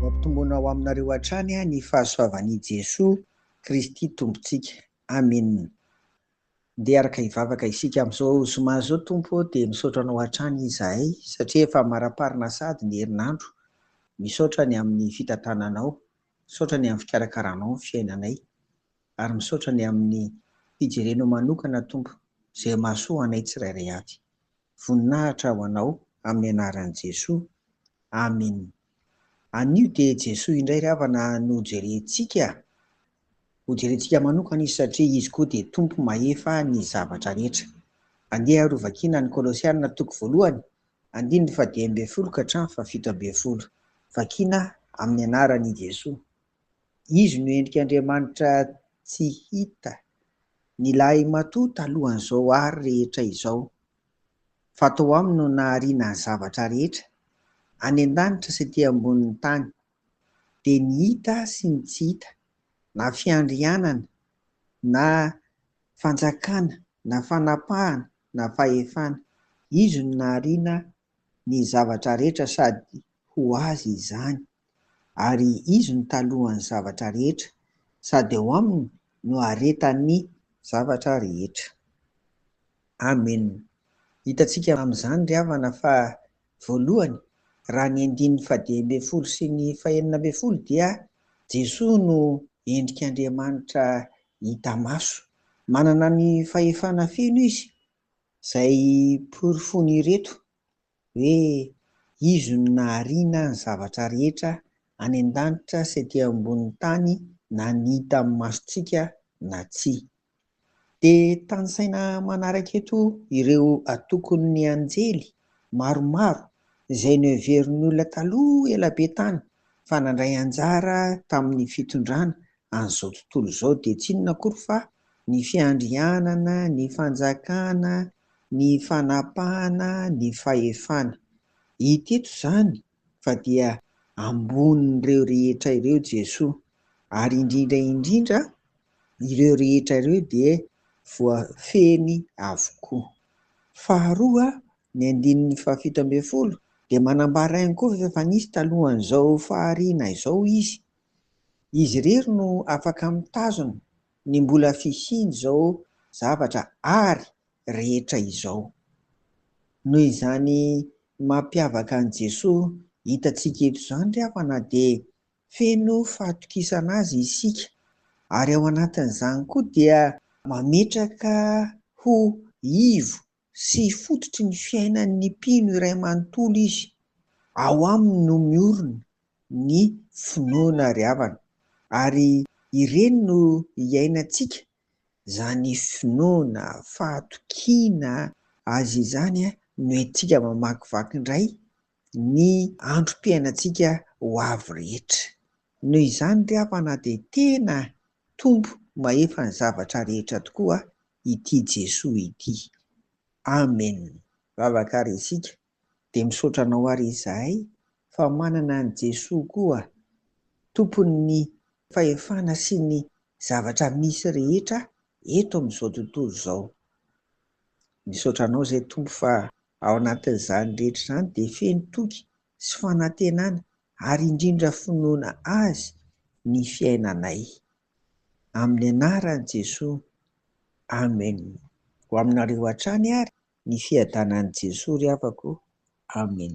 Hoampitombona ho aminareo hatrany ny fahasoavan'i Jesoa Kristy Tompontsika. Amena. Ndeha hiaraka hivavaka isika amin'izao zoma izao Tompo ô, dia misaotra Anao hatrany izahay satria efa amaraparina sahady ny herinandro, misaotra ny amin'ny fitantananao, misaotra ny amin'ny fikarakaranao ny fiainanay. ary misaotra ny amin'ny fijerenao manokana Tompo izay mahasoa anay tsirairay avy. Voninahitra ho anao amin'ny anaran'i Jesoa. Amin. Anio dia Jesoa indray ry havana no jerentsika, ho jerentsika manokana izy satria izy koa dia Tompo mahefa ny zavatra rehetra. Andeha ary ho vakiana ny Kolosiana toko voalohany andininy fahadimy ambin'ny folo ka hatramin'ny fahafito ambin'ny folo. Vakiana amin'ny anaran'i Jesoa. Izy no endrik' Andriamanitra tsy hita, ny lahimatoa talohan'izao ary rehetra izao, fa tao Aminy no nahariana ny zavatra rehetra, any an-danitra sy aty ambonin'ny tany, dia ny hita sy ny tsy hita, na fiandrianana, na fanjakana, na fanapahana, na fahefana. Izy no nahariana ny zavatra rehetra sady ho Azy izany. ary Izy no talohan'ny zavatra rehetra, sady ao Aminy no aretan'ny zavatra rehetra. Amen. Hitantsika amin'izany ry havana fa, voalohany, raha ny andininy fahadimy ambin'ny folo sy ny fahenina ambin'ny folo dia Jesoa no endrik'Andriamanitra hita maso. Manana ny fahefana feno Izy, izay porofoin'ireto hoe Izy no nahariana ny zavatra rehetra any an-danitra sy ety ambonin'ny tany na ny hita amin'ny masontsika na tsia. Dia tanisaina manaraka eto ireo atokon'ny anjely maromaro izay noheverin'ny olona taloha ela be tany fa nandray anjara tamin'ny fitondrana an'izao tontolo izao dia tsy inona akory fa ny fiandrianana, ny fanjakana, ny fanapahana, ny fahefana. Hita eto izany fa dia ambonin'ireo rehetra ireo Jesoa. Ary indrindra indrindra, ireo rehetra ireo dia voafehiny avokoa. Faharoa, ny andininy fahafito ambin'ny folo dia manambara ihany koa fa efa nisy talohan'izao fahariana izao izy, Izy irery no afaka mitazona ny mbola fisian'izao zavatra ary rehetra izao. Noho izany mampiavaka an'i Jesoa hitantsika eto izany ry havana dia feno fahatokisana Azy isika ary ao anatin'izany koa dia mametraka ho ivo sy fototry ny fiainan' ny mpino iray manontolo izy, ao aminy no miorina ny finoana ary havana, ary ireny no iainantsika, izany finoana, fahatokiana Azy izany no entintsika mamakivaky indray ny androm-piainantsika ho avy rehetra. Noho izany ry havana dia tena Tompo mahefa ny zavatra rehetra tokoa ity Jesoa ity. Amen. Vavaka ary isika dia misaotra anao ary izahay fa manana an'i Jesoa koa tompon'ny fahefana sy ny zavatra misy rehetra eto amin'izao tontolo izao. Misaotra anao izay Tompo fa ao anatin'izany rehetra izany dia feno toky sy fanantenana ary indrindra finoana Azy ny fiainanay. amin'ny anaran'i Jesoa, Amen! Ho aminareo hatrany ary ny fiadanan'i Jesoa ry havako o! Amen!